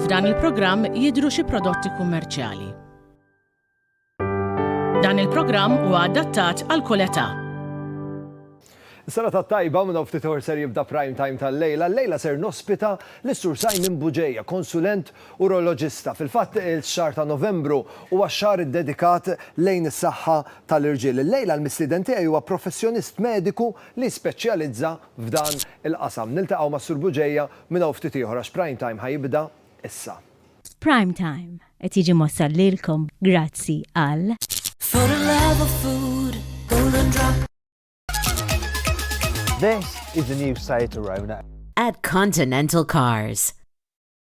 F'dan il-programm jidhru xi prodotti kummerċjali. Dan il-programm huwa adattat għal kull età. Sena ta' tajba minn ftit ħor ser jibda prime time tal-lejla. Lejla ser nospita l-Sur Simon Buġeja, konsulent Uroloġista. Fil-fatt ix-xahar ta' Novembru huwa x-xahar iddedikat lejn is-saħħa tal-irġiel. Illejla l-mistieden tiegħi huwa professjonist mediku li jispeċjalizza f'dan il-qasam. Niltaqgħu mas-Sur Bugeja minn hawn ftit ieħor għax Prime Time ħa jibda issa. Prime Time qed jiġi mwassal lilkom grazzi għal. This is the new Citroën. At Continental Cars.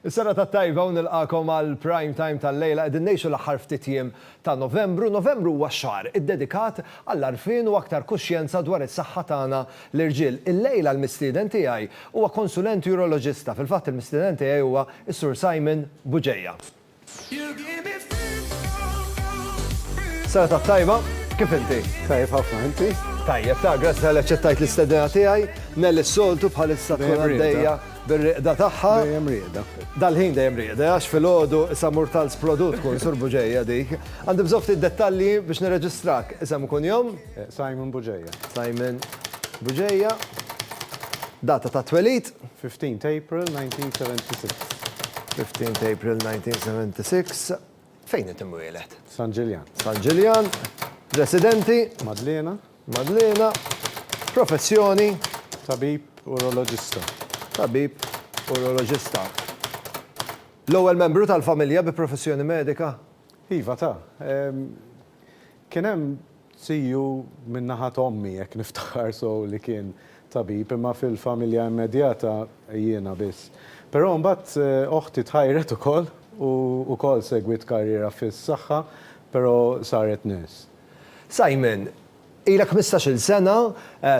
Is-serata t-tajba u nilqagħkom għall-prime time tal-lejla. Qegħdin ngħixu l-aħħar ftit jiem ta' Novembru. Novembru huwa x-xahar iddedikat għall-għarfien u aktar kuxjenza dwar is-saħħa tagħna l-irġiel. Il-lejla l-mistieden tiegħi huwa konsulent uroloġista. Fil-fatt il-mistieden tiegħi huwa s-Sur Simon Bugeja. Serata t-tajba, kif inti? Tajjeb ħafna, inti? Tajjeb, ta' grazzi għal ċettajt l-istedina tiegħi, nelli s-soltu bħalissa tkun għaddejja bir-riqda tagħha. Dejjem riqda. Dal-ħin dejjem riqda, għax fil-ħodu issa murtals produt kun surbu ġejja dik. Għandi bżofti dettalji biex nirreġistrak, isem u kun jom? Simon Bugeja. Simon Bugeja. Data tat-twelid? 15 t'April 1976. 15 t'April 1976. Fejn qed imwieled? San Ġiljan. San Ġiljan. Residenti? Madliena. Madliena. Professjoni? Tabib uroloġista. Tabib uroloġista. L-ewwel membru tal-familja bi professjoni medika? Iva ta. Kien hemm Tiju minn naħa ta' ommi, jekk niftakar sew, li kien tabib, imma fil-familja immedjata jiena biss. Però mbagħad oħti tħajret ukoll u wkoll segwiet karriera fis-saħħa, però saret nurse. Simon, ilek ħmistax-il sena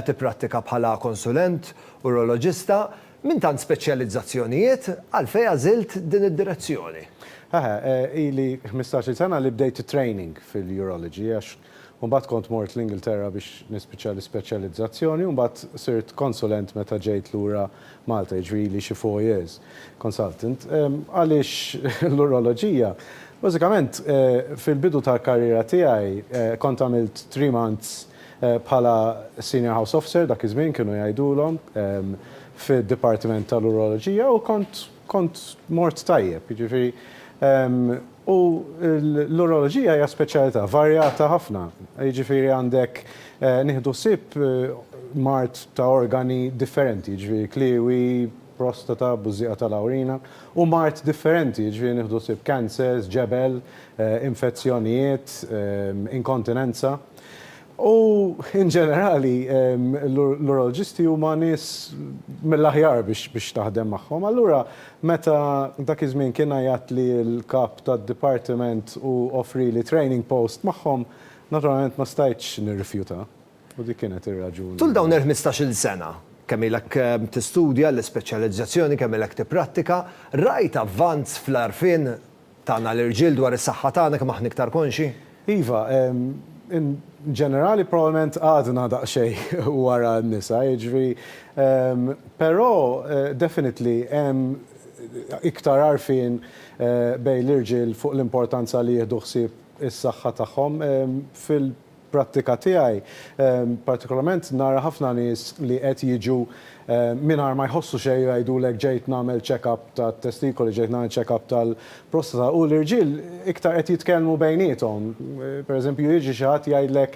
tipprattika bħala konsulent uroloġista. Minn tant speċjalizzazzjonijiet, għalfejn għażilt din id-direzzjoni? Eħe, ili ħmistax-il sena li bdejt it-training fil-urology għax imbagħad kont mort l-Ingilterra biex nispiċċa l-ispeċjalizzazzjoni u mbagħad sirt konsulent meta ġejt lura Malta, jiġifieri ili xi four years consultant. Għaliex l-uroloġija? Bażikament, fil-bidu tal-karriera tiegħi kont għamilt three months Bħala Senior House Officer dak iż-żmien kienu jgħidulhom fid-Dipartiment tal-Uroloġija u kont kont mort tajjeb. Jiġifieri u l-Uroloġija hija speċjalità varjata ħafna. Jiġifieri għandek nieħdu ħsieb mard ta' organi differenti, jiġifieri kliewi, prostata, bużżieqa tal-awrina u mard differenti, jiġifieri nieħdu ħsieb cancers, ġebel, infezzjonijiet, inkontinenza. U in ġenerali l-uroloġisti huma nies mill-aħjar biex taħdem magħhom. Allura meta dak iż-żmien kien għajatli l-kap tad-dipartiment u offrieli training post magħhom, naturalment ma stajtx nirrifjuta. U dik kienet ir-raġuni. Tul dawn il-ħmistax-il sena, kemm ilek tistudja l-ispeċjalizzazzjoni, kemm ilek tipprattika, rajt avvanz fl-għarfien tagħna l-irġiel dwar is-saħħa tagħna, kemm aħna iktar konxji? Iva, in ġenerali probabbilment għadna daqsxejn wara n-nisa, jiġifieri, però definitely hemm iktar għarfien bejn l-irġiel fuq l-importanza li jieħdu ħsieb is-saħħa tagħhom fil-, prattika tiegħi partikolarment nara ħafna nies li qed jiġu mingħajr ma jħossu xejn u jgħidulek ġejt nagħmel check up tat-testikoli, ġejt nagħmel check up tal-prostata u l-irġiel iktar qed jitkellmu bejniethom. Per eżempju jiġi xi ħadd jgħidlek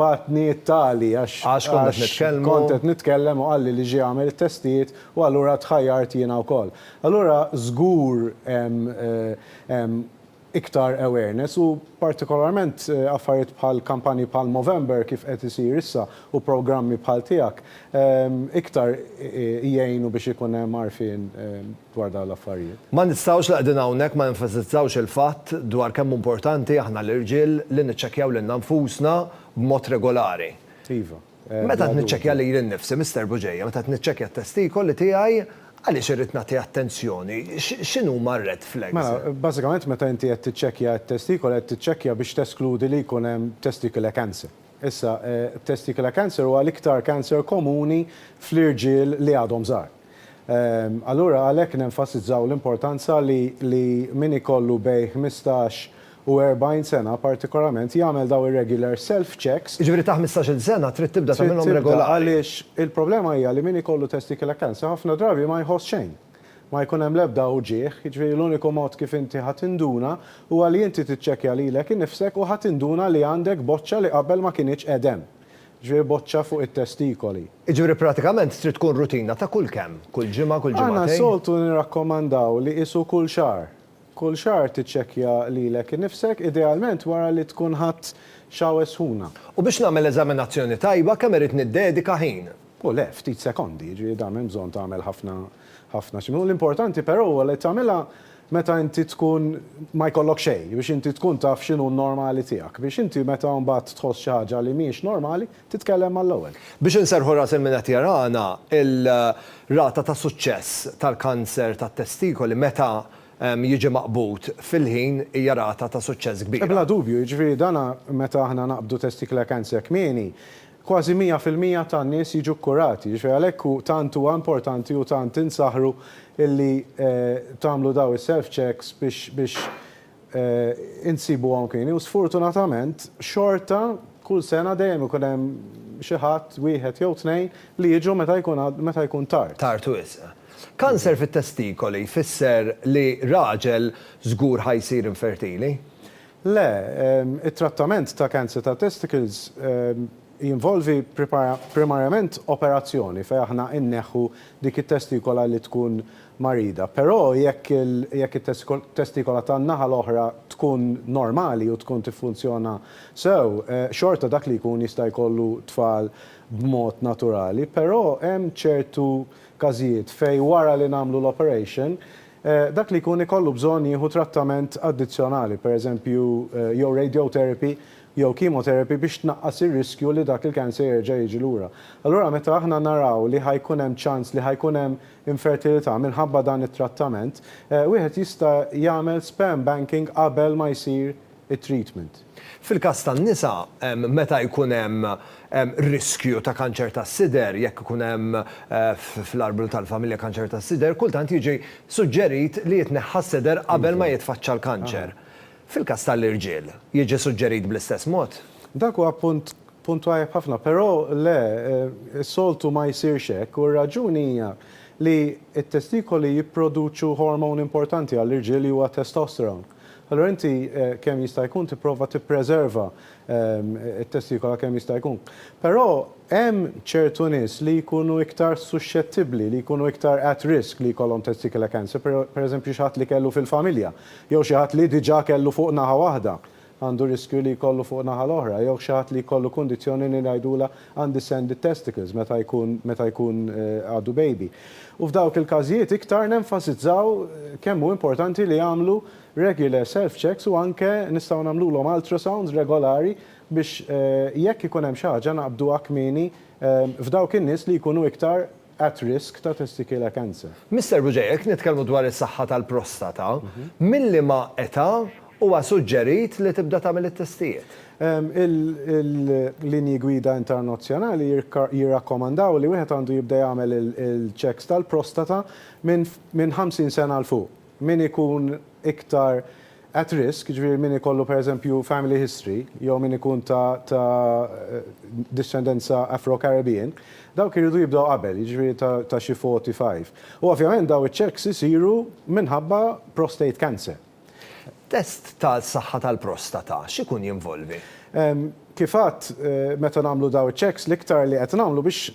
bagħatni t-tali għax kont qed nitkellem u qalli li ġie għamel it-testijiet u allura tħajjart jiena wkoll. Allura żgur hemm iktar awareness u partikolarment affarijiet bħal kampanji bħal Movember kif qed isir issa u programmi bħal tiegħek iktar jgħinu biex ikun hemm għarfien dwar dawn l-affarijiet. Ma nistgħux li qegħdin hawnhekk ma nenfasizzawx il-fatt dwar kemm hu importanti aħna l-irġiel li niċċekkjaw lilna nfusna b'mod regolari. Iva. Meta qed niċċekkja lili nnifsi, Mister Bugeja, meta qed niċċekkja t-testikoli tiegħi, għaliex irrid nagħti attenzjoni? X'inhuma r-red flags? Mela, bażikament meta inti qed tiċċekkja t-testikoli qed tiċċekkja biex teskludi li jkun hemm testicular cancer. Issa, testicular cancer huwa l-iktar cancer komuni fl-irġiel li għadhom żgħar. Allura għalhekk nenfasizzaw l-importanza li min ikollu bejn ħmistax u erbgħin sena partikolarment jagħmel dawn ir-regular self checks. Jiġifieri ta' ħmistax-il sena trid tibda tagħmilhom regolari. Trid tibda għaliex il-problema hija li min ikollu testicular cancer ħafna drabi ma jħoss xejn. Ma jkun hemm l-ebda uġigħ, jiġifieri l-uniku mod kif inti ħa tinduna huwa li inti tiċċekkja lilek innifsek u ħa tinduna li għandek boċċa li qabel ma kinitx qegħed hemm. Jiġifieri boċċa fuq it-testikoli. Jiġifieri pratikament trid tkun rutina ta' kull kemm? Kull ġimgħa, kull ġimagħtejn? Aħna soltu nirrakkomandaw li qisu kull xahar. Kull xahar tiċċekkja lilek innifsek, idealment wara li tkun ħadt xawer sħuna. U biex nagħmel eżaminazzjoni tajba kemm irrid niddedika ħin? O le, ftit sekondi, jiġifieri dan m'hemm bżonn tagħmel ħafna ħafna x'imlu. L-importanti però huwa li tagħmilha meta inti tkun ma jkollok xejn, biex inti tkun taf x'inhu n-normali tiegħek, biex inti meta mbagħad tħoss xi ħaġa li mhijiex normali, titkellem mal-ewwel. Biex inserrħu ras il-min qed jarana, il-rata ta' suċċess tal-kanser tat-testikoli meta jiġi maqbud fil-ħin hija rata ta' suċċess kbira. Bla dubju, jiġifieri dan meta aħna naqbdu testicular cancer kmieni, Kważi mija fil-mija tan-nies jiġu kkurati, jiġifieri għalhekk hu tant huwa importanti u tant insaħħru illi tagħmlu dawn is-self checks biex biex insibuhom kmieni u sfortunatament xorta kull sena dejjem ikun hemm xi ħadd, wieħed jew tnejn, li jiġu meta jkun għad meta jkun tard. Tard wisq. Kanser fit-testikoli jfisser li raġel żgur ħa jsir infertili? Le, it-trattament ta' kanser tat-testicles jinvolvi primarjament operazzjoni fejn aħna inneħħu dik it-testikola li tkun marida. Però jekk it-testikola tan-naħa l-oħra tkun normali u tkun tiffunzjona sew, xorta dak li jkun jista' jkollu tfal b'mod naturali. Però hemm ċertu każijiet fejn wara li nagħmlu l-operation Dak li jkun ikollu bżonn jieħu trattament addizzjonali, pereżempju jew radiotherapy jew chemotherapy biex tnaqqas ir-riskju li dak il-cancer jerġa' jiġi lura. Allura meta aħna naraw li ħa jkun hemm ċans li ħa jkun hemm infertilità minħabba dan it-trattament, wieħed jista' jagħmel sperm banking qabel ma jsir it-treatment. Fil-każ tan-nisa, meta jkun hemm riskju ta' kanċer tas-sider, jekk ikun hemm fl-arblu tal-familja kanċer tas-sider, kultant jiġi suġġerit li jitneħħa s-sider qabel ma jitfaċċa l-kanċer. Fil-każ tal-irġiel, jiġi suġġerit bl-istess mod? Dak huwa punt punt tajjeb ħafna, però le, is-soltu ma jsirx hekk, u r-raġuni hija li t-testikoli jipproduċu hormone importanti għall-irġiel li huwa testosterone. Allura inti kemm jista' jkun tipprova tippreserva t-testikula kemm jista' jkun. Però hemm ċertu nies li jkunu iktar suxxettibbli, li jkunu iktar at risk li jkollhom testicular cancer, pereżempju xi ħadd li kellu fil-familja, jew xi ħadd li diġà kellu fuq naħa waħda għandu riskju li jkollu fuq naħa l-oħra, jew xi ħadd li jkollu kundizzjoni li ngħidulha għandi sanded testicles meta jkun meta jkun għadu baby. U f'dawk il-każijiet iktar nenfasizzaw kemm hu importanti li jagħmlu regular self checks u anke nistgħu nagħmlulhom ultrasounds regolari biex jekk ikun hemm xi ħaġa naqbduha kmieni f'dawk in-nies li jkunu iktar at risk ta' testicular cancer. Mister Buġej, jekk nitkellmu dwar is-saħħa tal-prostata, minn liema età huwa suġġerit li tibda tagħmel it-testijiet? Il-linji gwida internazzjonali jirrakkomandaw li wieħed għandu jibda jagħmel il-checks tal-prostata minn 50 sena 'l fuq. min ikun iktar at risk, jiġifieri min ikollu pereżempju family history jew min ikun ta' ta' dixxendenza Afro-Caribbean, dawk iridu jibdew qabel, jiġifieri ta' ta' xi 45. U ovvjament dawn iċ-checks isiru minħabba prostate cancer. Test tas-saħħa tal-prostata x'ikun jinvolvi? Kif għadt, meta nagħmlu dawn iċ-checks l-iktar li qed nagħmlu biex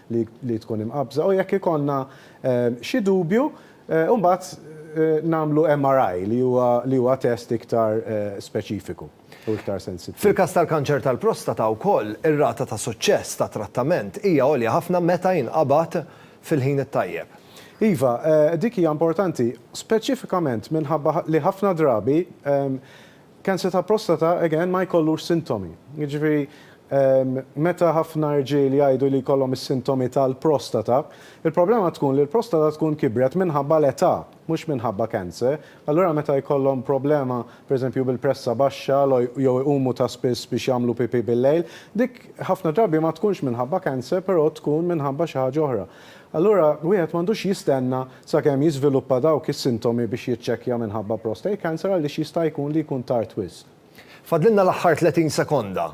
li tkun imqabbża u jekk ikollna xi dubju mbagħad nagħmlu MRI li huwa li huwa test iktar speċifiku u iktar sensittiv. Fil-każ tal-kanċer tal-prostata wkoll ir-rata ta' suċċess tat-trattament hija għolja ħafna meta jinqabad fil-ħin it-tajjeb. Iva, dik hija importanti speċifikament minħabba li ħafna drabi Kanser ta' prostata again ma jkollux sintomi. Jiġifieri meta ħafna rġiel jgħidu li jkollhom is-sintomi tal-prostata, il-problema tkun li l-prostata tkun kibret minħabba l-età, mhux minħabba kanser. Allura meta jkollhom problema pereżempju bil-pressa baxxa jew iqumu ta' spiss biex jagħmlu pipì bil-lejl, dik ħafna drabi ma tkunx minħabba kanser però tkun minħabba xi ħaġa oħra. Allura wieħed m'għandux jistenna sakemm jiżviluppa dawk is-sintomi biex jiċċekkja minħabba prostate cancer għaliex jista' jkun li jkun tard wisq. Fadlilna l-aħħar 30 sekonda.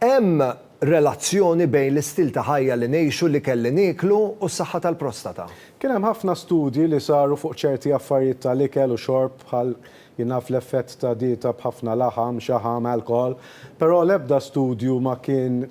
Hemm relazzjoni bejn l-istil ta' ħajja li ngħixu, l-ikel li nieklu u s-saħħa tal-prostata? Kien hemm ħafna studji li saru fuq ċerti affarijiet tal-ikel u xorb bħal Jien naf l-effett ta' dieta b'ħafna laħam, xaħam, alkoħol, però l-ebda studju ma kien,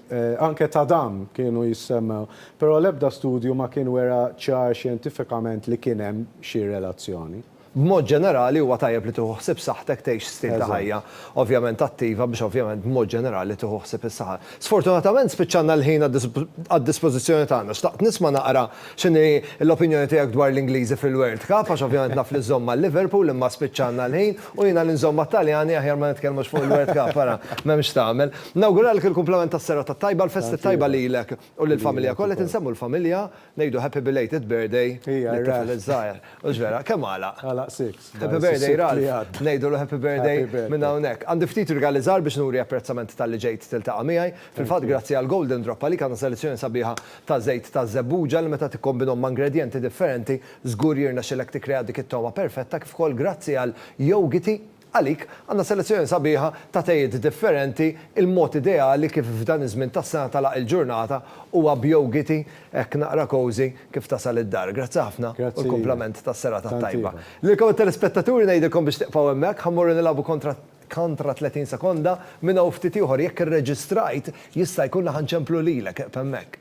anke ta' dam kienu jissemmew, però l-ebda studju ma kien wera ċar xjentifikament li kien hemm xi relazzjoni. B'mod ġenerali huwa tajjeb li tieħu ħsieb saħħtek tgħix stil ta' ħajja ovvjament attiva biex ovvjament b'mod ġenerali tieħu ħsieb is-saħħa. Sfortunatament spiċċalna l-ħin għad-dispożizzjoni tagħna. Xtaqt nisma' naqra x'inhi l-opinjoni tiegħek dwar l-Ingliżi fil-World Cup għax ovvjament naf li żżomm mal-Liverpool imma spiċċalna l-ħin u jiena li nżomm mat-Taljani aħjar ma nitkellmux fuq il-World Cup ara m'hemm x'tagħmel. Nawguralek il-kumplament tas-serata t-tajba, l-festi t-tajba lilek u lill-familja kollha, qed insemmu l-familja Ngħidu happy belated birthday lit-tifel iż-żgħir. Hux vera? Kemm għalaq? Għalaq sitt. Happy birthday Ralph. Ngħidulu happy birthday minn hawnhekk. Għandi ftit rigali żgħar biex nuri apprezzament talli ġejt tiltaqa' miegħi. Fil-fatt grazzi għal Golden Drop għalik għandna selezzjoni sabiħa ta' żejt ta' żebbuġa li meta tikkombinhom ma' ingredjenti differenti żgur jirnexxilek tikkrea dik it-togħma perfetta kif ukoll grazzi għal Yougity Għalik, għandna selezzjoni sabiħa ta' tejiet differenti, il-mod ideali kif f'dan iż-żmien tas-sena tagħlaq il-ġurnata huwa b'yogiti hekk naqra cosy kif tasal id-dar. Grazzi ħafna u l-kumplament tas-serata t-tajba. Lilkom it-telespettaturi ngħidilkom biex tibqgħu hemmhekk, ħa mmorru nilagħbu kontra kontra 30 sekonda, minn hawn ftit ieħor jekk irreġistrajt jista' jkun li ħa nċemplu lilek, eqf' hemmhekk.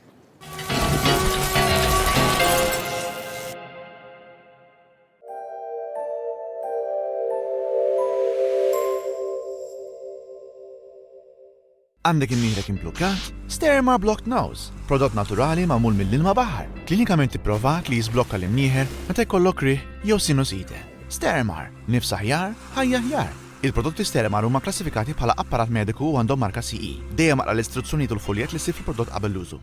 Għandek imnieħrek implukkat? Sterma Blocked Nose, prodott naturali magħmul mill-ilma baħar, klinikament ipprovat li jiżblokka l-imnieħer meta jkollok rih jew sinusite. Stermar, nifs aħjar, ħajja aħjar. Il-prodotti Stermar huma klassifikati bħala apparat mediku u għandhom marka CE. Dejjem aqra l-istruzzjonijiet u l-fuljett li ssib fil-prodott qabel l-użu.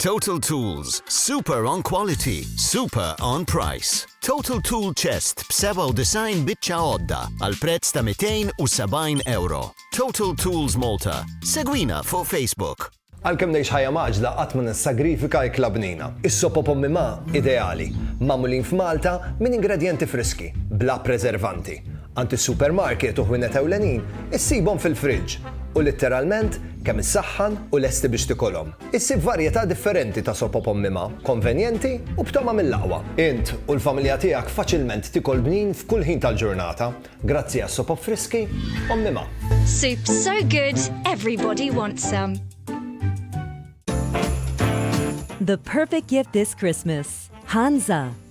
Total Tools, super on quality, super on price. Total Tool Chest b-97 biċċa għodda għal prezz ta' 270 euro. Total Tools Malta. Segwina fuq Facebook. Għalkemm ngħix ħajja maġla qatt ma nissagrifika l-klabnina. Is-sopo pommi ma' ideali, magħmulin f'Malta minn ingredjenti friski, bla preservanti. Għand is-supermarket u ħwienet ewlenin issibhom fil-friġġ u litteralment kemm issaħħan u lesti biex tikolhom. Issib varjetà differenti ta' soppa b'ommimha, konvenjenti u b'togħma mill-aqwa. Int u l-familja tiegħek faċilment tikol bnin f'kull ħin tal-ġurnata grazzi għas-sopop friski ommimha. Soup so good, everybody wants some. The perfect gift this Christmas, Hansa.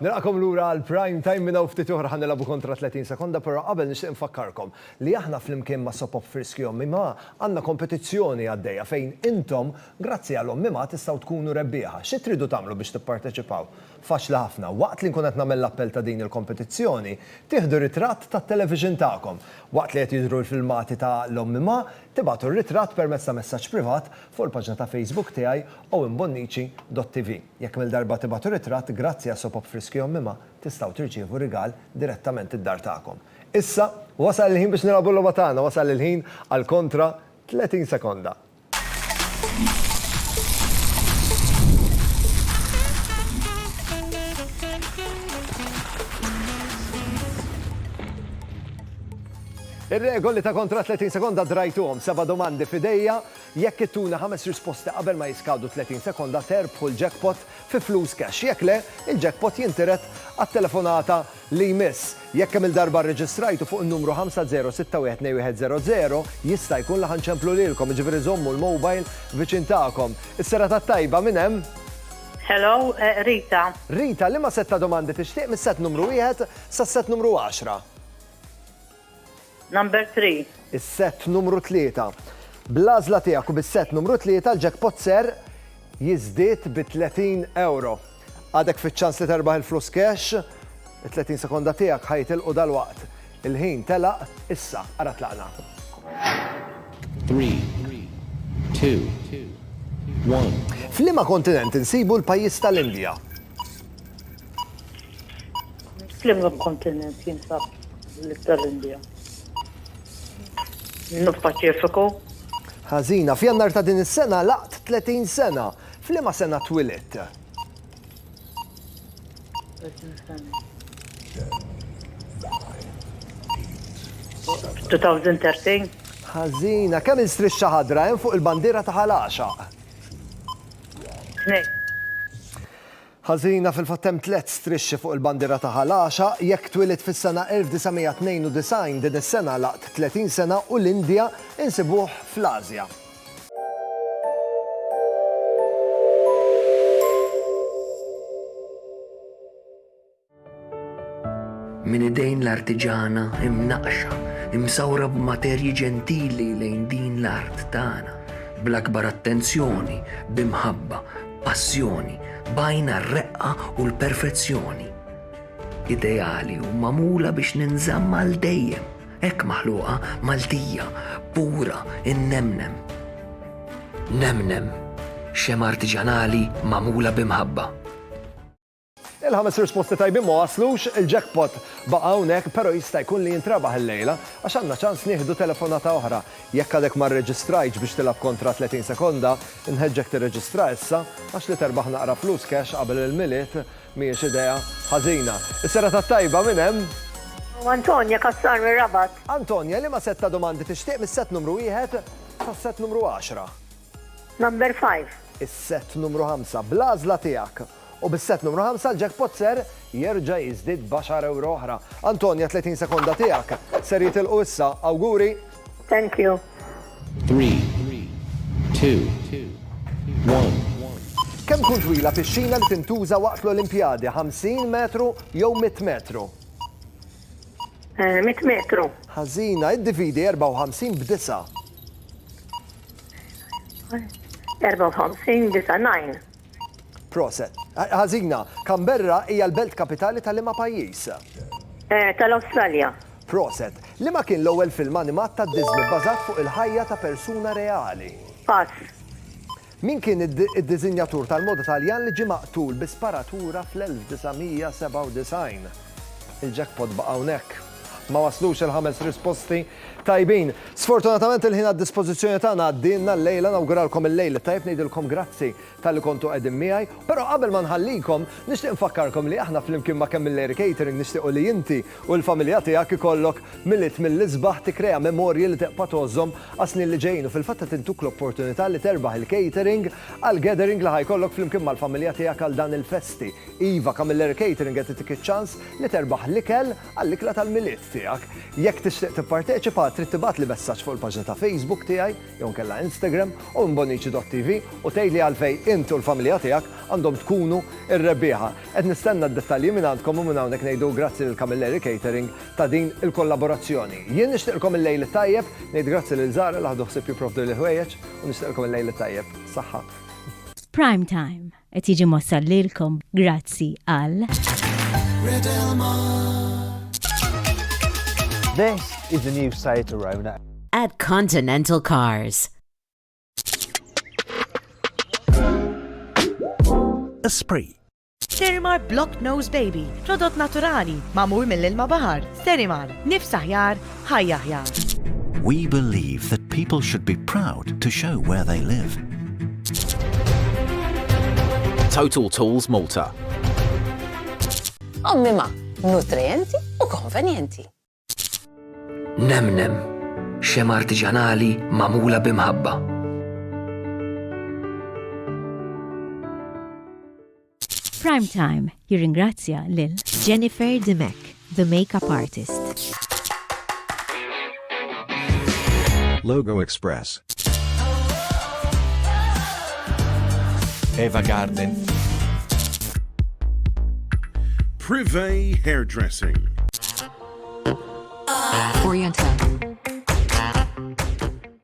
Nilqakom lura għal prime time minna u ftit oħra ħanilabu kontra 30 sekonda, però qabel nixtieq nfakkarkom li aħna flimkien ma' Sopop Friski Ommi Ma għandna kompetizzjoni għaddejja fejn intom grazzi għal Ommi Ma tistgħu tkunu rebbieħa. Xi tridu tagħmlu biex tipparteċipaw? Faċli ħafna. Waqt li nkun qed nagħmel l-appell ta' din il-kompetizzjoni, tieħdu ritratt tat-television tagħkom. Waqt li qed jidhru l-filmati ta' l-ommima, tibagħtu r-ritratt permezz ta' messaġġ privat fuq il-paġna ta' Facebook tiegħi owenbonnici dot TV. Jekk mil darba tibagħtu ritratt, grazzi għas Sopop Friski Ommima, tistgħu tirċievu rigal direttament id-dar tagħkom. Issa, wasal il-ħin biex nilagħbu l-logħba tagħna, wasal il-ħin għal kontra 30 sekonda. Ir-regoli ta' kontra 30 sekonda drajtuhom seba' domandi fidejja jekk ittuna ħames risposti qabel ma jiskadu 30 sekonda terbħu l-jackpot fi flus cash. Jekk le, il-jackpot jintiret għat-telefonata li jmiss. Jekk kemm-il darba rreġistrajtu fuq in-numru 50612100, jista' jkun li ħa nċemplu lilkom, jiġifieri żommu l-mobile viċin tagħkom. Is-serata t-tajba, min hemm? Hello, Rita. Rita, liema sett ta' domandi tixtieq mis-sett numru wieħed sas-sett numru għaxra? Number three. Is-sett numru tlieta. Bl-għażla tiegħek u bis-sett numru tlieta l-jackpot ser jiżdied bi 30 ewro. Għadek fiċ-ċans li terbaħ il-flus cash, it-30 sekonda tiegħek ħa jitilqu dalwaqt. Il-ħin telaq issa, ara tlaqna. Three, two, one. F'liema kontinent insibu l-pajjiż tal-Indja? Fl-imgħa kontinent jinsab l-ib tal-Indja. Nuf Paċifiku. Ħażina. F'Jannar ta' din is-sena laqt 30 sena. F'liema sena twilet? Ħażina. Kemm il-strixxa ħadra hemm fuq il-bandiera ta' Ħal Għaxaq? Tnejn. Ħażina fil-fatt hemm tliet strixxi fuq il-bandiera ta' Ħal Għaxaq, jekk twielidt fis-sena 1992 din is-sena għalaqt 30 sena u l-Indja insibuh fl-Ażja. Minn idejn l-artiġana imnaqqxa, imsawra b'materji ġentili lejn din l-art tagħna, bl-akbar attenzjoni, bi mħabba, b'passjoni, b'għajn għar-reqqa u l-perfezzjoni. Ideali u magħmula biex ninżamm għal dejjem, hekk maħluqa, Maltija, pura, innemnem. Nemnem, xemgħa artiġanali magħmula bi mħabba. Il-ħames risposti tajbin ma waslux, il-jackpot baqa' hawnhekk pero' jista' jkun li jintrebaħ illejla għax għandna ċans nieħdu telefonata oħra. Jekk għadek ma rreġistrajtx biex tilgħab kontra 30 sekonda, inħeġġek tirreġistra issa għax li terbaħ naqra flus cash qabel il-Milied mhijiex idea ħażina. Is-serata t-tajba minn hemm. Antonia Cassar mir-Rabat. Antonia, liema sett ta' domandi tixtieq mis-sett numru wieħed sas-sett numru għaxra? Number five. Is-sett numru ħamsa, bl-għażla tiegħek. U bis-set numru ħamsa l-jackpot ser jerġa' jiżdied b'għaxar ewro oħra. Antonia 30 sekonda tiegħek ser jitilqu issa. Awguri! Thank you. Three, two, one. Kemm tkun twila pixxina li tintuża waqt l-Olimpjadi, 50 metru jew 100 metru? Eh, 100 metru. Ħażina, iddividi 54 b'disa'. 54 b'disa' nine. Proset. Ħażina. Canberra hija l-belt kapitali ta' liema pajjiż? Tal-Awstralja. Proset. Liema kien l-ewwel film animat ta' Disney bbażat fuq il-ħajja ta' persuna reali? Pass. Min kien id-diżinjatur tal-moda Taljan li ġie maqtul bi sparatura fl-1997? Il-jackpot baqa' hawnhekk. Ma waslux il-ħames risposti tajbin. Sfortunatament il-ħin għad-dispożizzjoni tagħna għaddielna llejla, nawguralkom il-lejl it-tajjeb, ngħidilkom grazzi talli kontu qegħdin miegħi, però qabel ma nħallikom nixtieq nfakkarkom li aħna flimkien ma' Camilleri Catering nixtiequ li inti u l-familja tiegħek ikollok Milied mill-isbaħ, tikkrea memorji li tibqa' tgħożhom għas-snin li ġejjin u fil-fatt qed intuk l-opportunità li terbaħ il-catering għall-gathering li ħa jkollok flimkien mal-familja tiegħek għal dan il-festi. Iva, Camilleri Catering qed itik iċ-ċans li terbaħ l-ikel għall-ikla tal-Milied tiegħek. Jekk tixtieq tipparteċipa, trid tibgħatli messaġġ fuq il-paġna ta' Facebook tiegħi jew inkella Instagram u imbonici.tv u tgħidli għalfejn int u l-familja tiegħek għandhom tkunu r-rebbieħa. Qed nistenna d-dettalji mingħandkom u minn hawnhekk ngħidu grazzi lil Camilleri Catering ta' din il-kollaborazzjoni. Jien nixtieqlkom il-lejl it-tajjeb, ngħid grazzi lil Zara li ħadu ħsieb jipprovduli l-ħwejjeġ u nixtieqlkom il-lejl it-tajjeb. Saħħa. F'Prime Time. Qed jiġi mwassal lilkom grazzi għal. This is the new Seat Arona. At Continental Cars. Esprit. Sterimar Block Nose Baby, prodott naturali, mamur mill-ilma bahar. Sterimar, nifs aħjar, ħajja aħjar. We believe that people should be proud to show where they live. Total Tools Malta. Ommima, nutrienti u konvenjenti. Nemnem, xem artiġanali mamula bimħabba. Prime Time jirringrazzja lil Jennifer Dimech, the makeup artist. Logo Express. Eva Garden. Privé Hairdressing. Oriental.